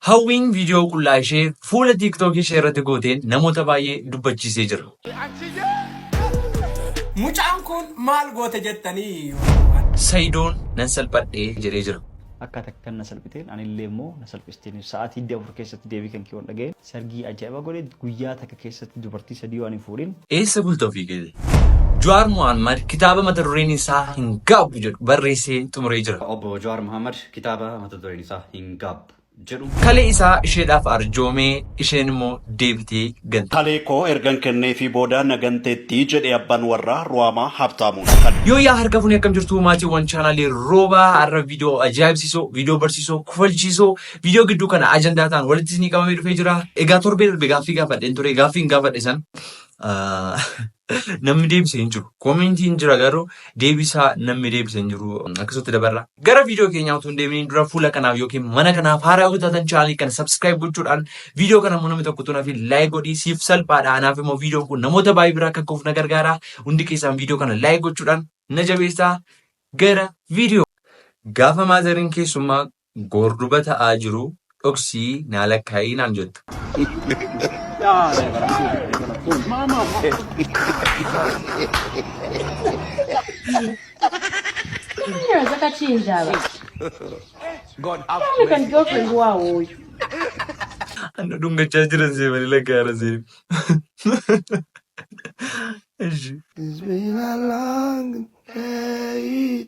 Hawwiin viidiyoo qullaa ishee fuula TikTok ishee irratti gooteen namoota baay'ee dubbachiisee jira. Mucaan kun maal goote jettanii? Sayidoon nan salphadhee jedhee jira. Akka takkan na salphiteen anillee immoo na salphisteen sa'aatii digdamii afur keessatti deebii kan kiyoon dhaga'e. Sargii aja'iba godhe guyyaa takka keessatti dubartii sadii waan hin fuudhin. Eessa bulta ofii keetii? Jawaar Mohaammad kitaaba mata dureen isaa hin gaabbu jedhu barreessee xumuree jira. Obbo Jawaar Mohaammad kitaaba mata dureen isaa hin gaabbu jedhu. Kalee isaa isheedhaaf arjoome isheen immoo deebitee gante. Kalee koo ergan kenneefii booda na ganteetti jedhe abban warraa Ruwaamaa Habtaamuun. Kan. Yooyyaa harka funee akkam jirtuu maatiiwwan chaanaalii roobaa har'a viidiyoo ajaa'ibsiisoo viidiyoo barsiisoo kufalchiisoo Viidiyoo gidduu kana ajandaa ta'an walitti isinii qabamee dhufee jira. Egaa torbee darbe gaaffii gaafadheen ture. Gaaffiin gaafadhe san ah, namni deebise hin jiru. Koomentiin jira garuu deebisaa namni deebise hin jiru. Akkasumatti dabarra. Gara viidiyoo keenyaa utuu hin deeminiin dura fuula kanaaf yookiin mana kanaaf haaraa yoo taatan chaanalii kana subscribe gochuudhaan viidiyoo kana immoo namni tokko utuu naaf like godhii siif salphaadha. Anaaf immoo viidiyoon kun namoota baay'ee biraa akka gahuuf na gargaara. Hundi keessaan viidiyoo kana like gochuudhaan na jabeessaa gara viidiyoo. Gaafa maazariin keessummaa Boor duba ta'aa jiru dhoksii naa lakkaa'ii naan jetta. Anna dhungachaa jiran see malee lakkaa'ara see. Ishi. It's been a long day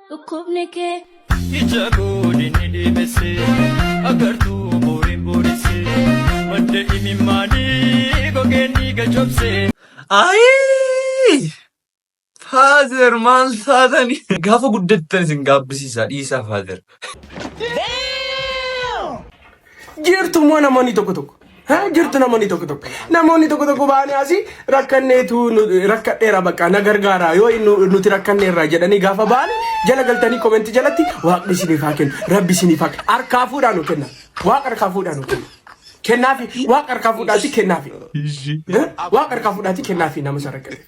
dhukkubni kee. Ija gooliin ni deebise agartuu booriin booresse madda imimmaanii gogeen ni gajobse. Ayii! Faazer maal taatanii? Gaafa guddattan isin gaabbisiisa dhiisaa faazer. Jirtu immoo namoonni tokko tokko. Jirtu namoonni tokko tokko. Namoonni tokko tokko baanii asii rakkanneetu rakkadheera bakka na gargaara yoo nuti rakkanneerra jedhanii gaafa baanii jala galtanii komentii jalatti waaqni isiniif haa kennu rabbi isiniif haa kennu harkaa fuudhaa nu kenna waaqa harkaa fuudhaa nu kenna. Kennaafi waaqa harkaa fuudhaati kennaafi. Waaqa harkaa fuudhaati kennaafi nama sarara kenna.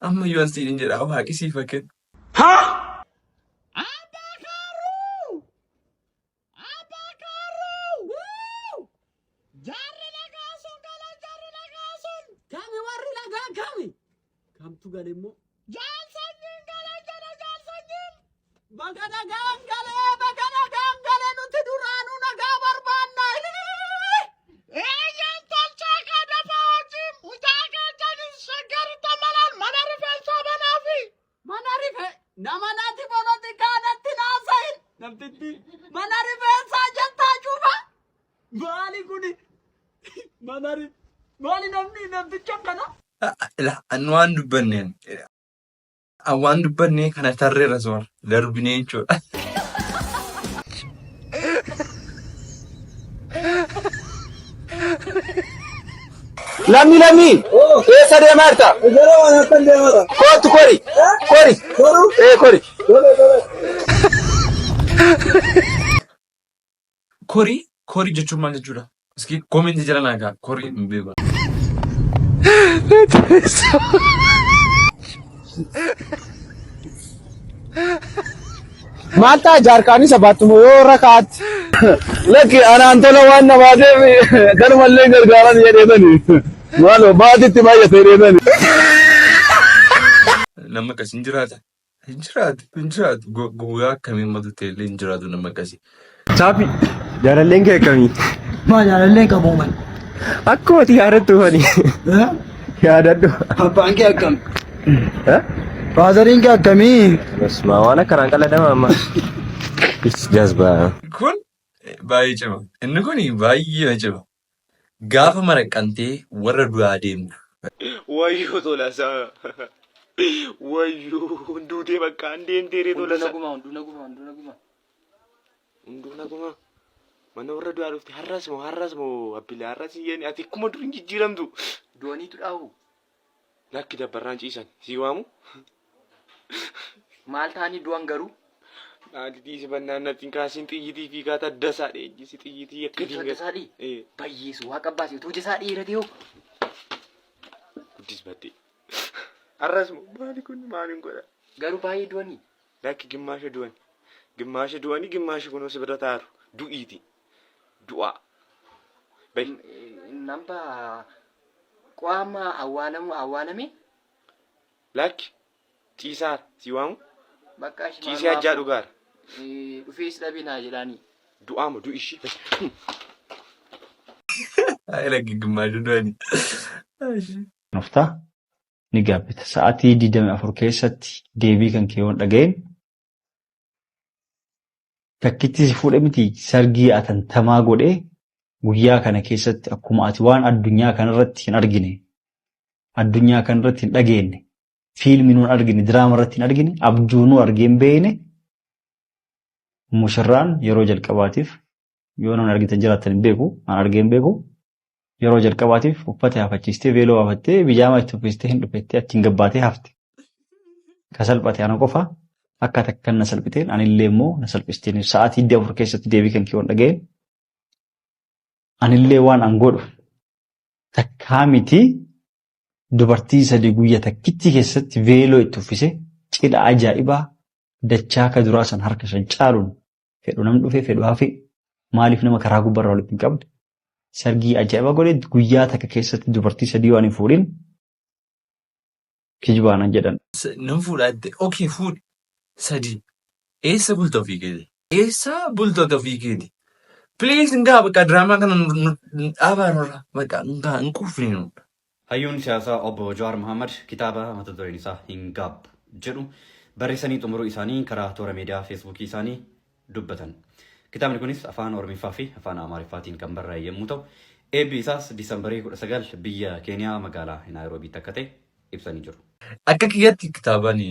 Amma iyyuu an siin jedhaa waaqi siif haa kennu. Abbaa kaarruu! Abbaa kaarruu! Wuu! Jaarri lagaa sun gala jaarri lagaa sun! Kami warri lagaa kami? Kamtu gale immoo? Jaal sanyiin gala jala jaal sanyiin! Baga nagaan galee baga nagaan galee nuti duraanuu nagaa barbaanna. Eeyyaan tolchaa kaa dafaa hojii mucaa kaa janis shaggarta malaan mana rifeensaa banaa fi mana rife nama nati polotikaa natti naasahin namtitti mana rifeensaa jettaa cufa maali kuni mana ri maali namni namticha akkana. Ila annu waan dubbanneen An waan dubbannee kana tarreerra soor darbinee jechuudha. Lammi lammi eessa deemaa jirta? Gara waan akkan deemata. Kootu kori kori Garuu ee kori. dole dole. Kori kori jechuun maal jechuudha? Iski koomenti jala naa gaa kori hin beeku. Maal ta'a jaarkaanii sabaattumoo yoo irra kaa'atti. Lakki anaan tola waan namaa deemi galumallee gargaaran jedheetani. Maaloo baatitti baay'atee deetani. Nama akkas hin jiraata. Hin jiraatu, hin jiraatu. Gu- Guyyaa akkamiin matu ta'e illee hin jiraatu nama akkasii. Saafi jaalalleen kee akkamii? Maa jaalalleen qabu man. Akkuma ati yaadattu fani yaadadhu. Abbaan kee akkam? Faazariin kee akkamii? Basuma waan akkanaan qaladama amma. Is jazbaa. Kun eh, baay'ee cima. Inni kun baay'ee cima. Gaafa maraqqantee warra du'aa deemta. Wayyoo tolasaa wayyoo duutee bakka an deemtee ree Hunduu tolasaa. naguma, hunduu naguma, hunduu naguma. Hunduu naguma mana warra du'aa dhufte har'as moo har'as moo abbilaa har'as hin jedhani ati akkuma dur hin jijjiiramtu. Du'aniitu dhaahu. Lakki dabbarraan ciisan sii waamu. Maal taanii du'an garuu? Naatitii si bannaan natti hin kaasiin xiyyitii fi kaa taddasaa dheejjisi xiyyitii akka Dhiiga dinga. tasaa dhii. Eh. Bayyeesu waa qabbaasi utuu jesaa dhiira ta'uu. Guddis battee. Arras moo maali kun maaliin godha? Garuu baay'ee du'anii. Lakki gimmaasha du'an. Gimmaasha du'anii gimmaasha kunoo si bira taaru. Du'iiti. du'aa. Bahi. Namba qo'a amma awwaalamu awwaalame Lakki ciisaara si waamu bakka ashi ciisee hajjaa dhugaara. dhufee si dhabee naa jedhaanii. Du'aa moo du'i ishii bahi. Ay lagi gimmaashu du'ani. nofta ni gaabbita. Sa'atii 24 keessatti deebii kan kee yoon dhaga'in Takkitti si fuudhe miti sargii atantamaa godhee guyyaa kana keessatti akkuma ati waan addunyaa kanarratti hin argine addunyaa kanarratti hin dhageenye fiilmii nuun argine diraama irratti hin argine abjuu nuu argee hin beekne mushirraan yeroo jalqabaatiif yoo nan argitan jiraattan hin beeku an argee hin beeku yeroo jalqabaatiif uffata haafachiistee veeloo haafattee bijaamaa itti uffistee hin dhufettee achiin gabbaatee hafte ka salphate ana qofa akka takkan na salphiteen anillee immoo na salphisteen sa'aatii hiddi afur keessatti deebii kan kiyoon dhaga'een anillee waan an godhu takkaa miti dubartii sadii guyya takkitti keessatti veeloo itti uffise cidha ajaa'ibaa dachaa ka duraa san harka shan caaluun fedhu nam dhufe fedhu hafe maaliif nama karaa gubbarraa walitti hin qabne sargii ajaa'iba godhe guyyaa takka keessatti dubartii sadii waan hin fuudhin kijibaanan jedhan. S- Nan fuudha jette. Okee fuudhi. Sadii. Eessa bulta ofii keeti? Eessa bulta ofii keeti? Please ngaa bakka diraamaa kana nu- nu- nu dhaabaa nurra. Bakka ngaa hin quufne nu. Hayyuun siyaasaa Obbo Jawaar Mahaammad kitaaba mata dureen isaa Hin Gaab jedhu barreessanii xumuruu isaanii karaa toora miidiyaa Feesbuukii isaanii dubbatan. Kitaabni kunis Afaan Oromiffaa fi Afaan Amaariffaatiin kan barraa'e yemmuu ta'u, eebbi isaas Diisambarii 19 biyya Keeniyaa magaalaa Naayiroobiitti akka ta'e ibsanii jiru. Akka kiyyatti kitaabani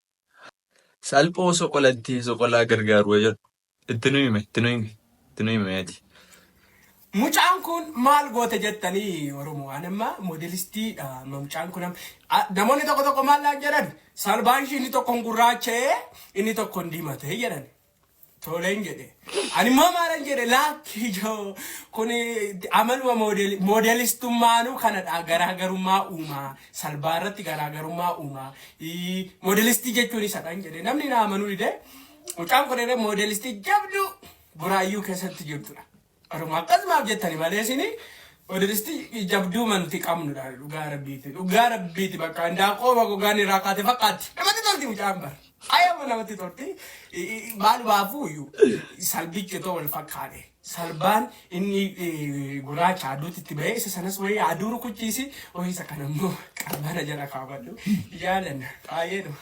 Salphoo soqolattee soqolaa gargaaru jedhu itti nu hime itti nu hime itti nu hime ati. Mucaan kun maal goote jettanii oromoo an amma modelistii dha mucaan kun namoonni tokko tokko maal naan jedhan salbaan ishii inni tokkon gurraacha'ee inni tokkon diimatee jedhan Toleen jedhe. Ani immoo maalan jedhe laakki ijoo kun amaluma moodelistummaanuu kanadha garaagarummaa uumaa salbaa irratti garaagarummaa uumaa moodelistii jechuun isadhaan jedhe namni na amanuu dide mucaan kun irra moodelistii jabduu buraayyuu keessatti jirtudha. Oroma akkas maaf jettani malee isini odiristi jabduu manti qabnu dha dhugaa rabbiiti dhugaa rabbiiti bakka indaaqoo bagogaan irraa kaate fakkaatti namatti tolti mucaan bar ayama namatti tolti maal baafuu iyyuu salbichi otoo wal fakkaate salbaan inni guraacha aduutti itti ba'ee isa sanas wayii aduu rukuchiisi wayii isa kanammoo qabbana jala kaawwadhu jaalanna baay'ee nama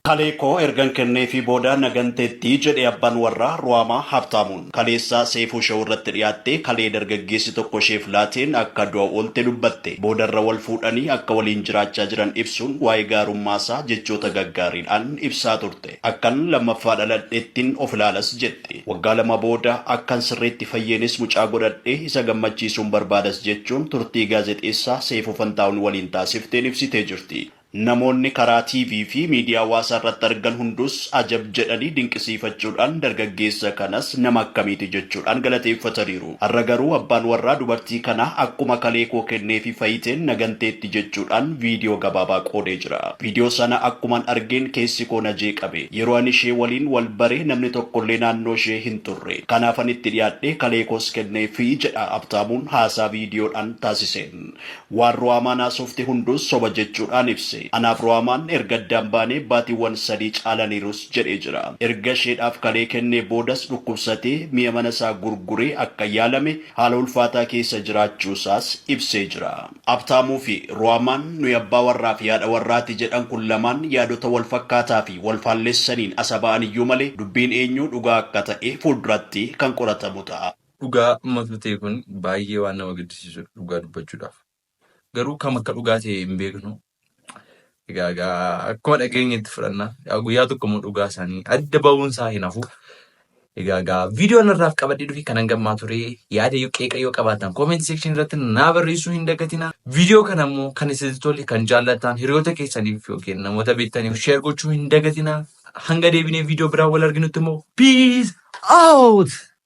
Kalee koo ergan kenneefii booda na ganteetti, jedhe abbaan warraa Ruhaamaa Habtaamuun. Kaleessa Seeyfuu Show irratti dhiyaattee kalee dargaggeessi tokko isheef laateen akka du'a oolte dubbatte. Boodarra wal fuudhanii akka waliin jiraachaa jiran ibsuun waa'ee gaarummaasaa jechoota gaggaariidhaan ibsaa turte. Akkan lammaffaa dhaladhettin of ilaalas jetti. Waggaa lama booda akkan sirriitti fayyeenis mucaa godhadhee isa gammachiisuun barbaadas jechuun turtii gaazexeessaa Seeyfuu Fantaahun waliin taasifteen ibsitee jirti. Namoonni karaa TV fi miidiyaa hawaasaa irratti argan hundus ajab jedhanii dinqisiifachuudhaan dargaggeessa kanas nama akkamiiti jechuudhaan galateeffataniiru. Har'a garuu abbaan warraa dubartii kanaa akkuma kalee koo kenneefi fayiteen na ganteetti jechuudhaan viidiyoo gabaabaa qoodee jira. Viidiyoo sana akkuman argeen keessi koo na jeeqame. Yeroo ani ishee waliin wal bare namni tokkollee naannoo ishee hin turre. Kanaafan itti dhiyaadhee kalee koos kenneefi, jedha Habtaamuun haasaa viidiyoodhaan taasiseen. Waan Ruhaamaan haasofte hunduu soba jechuudhaan ibse. Anaaf Ruhaamaan erga addaan baanee baatiiwwan sadii caalaniirus jedhee jira. Erga isheedhaaf kalee kennee boodas dhukkubsatee mi'a mana isaa gurguree akka yaalame, haala ulfaataa keessa jiraachuu isaas ibsee jira. Abtaamuu fi Ruhaamaan nuyi abbaa warraa fi haadha warraati jedhan kun lamaan yaadota wal fakkaataa fi wal faallessaniin as haba'an iyyuu malee dubbiin eenyuu dhugaa akka ta'e fuulduratti kan qoratamu ta'a. Dhugaa matu ta'e kun baay'ee waan nama gaddisiisudha dhugaa dubbachuudhaaf. Garuu kam akka dhugaa ta'e hin beeknu. Egaa egaa akkuma dhageenyetti fudhanna. Egaa guyyaa tokko immoo dhugaa isaanii adda ba'uun isaa hin hafu. Egaa egaa viidiyoo narraaf qabadhee dhufe kanan gammaa ture yaada yoo qeeqa yoo qabaatan comment section irratti naa barreessuu hin dagatina. Viidiyoo kana immoo kan isin tole kan jaallattan hiriyoota keessaniif yookiin namoota beektaniif share gochuu hin dagatina. Hanga deebinee viidiyoo biraa wal arginutti immoo peace out!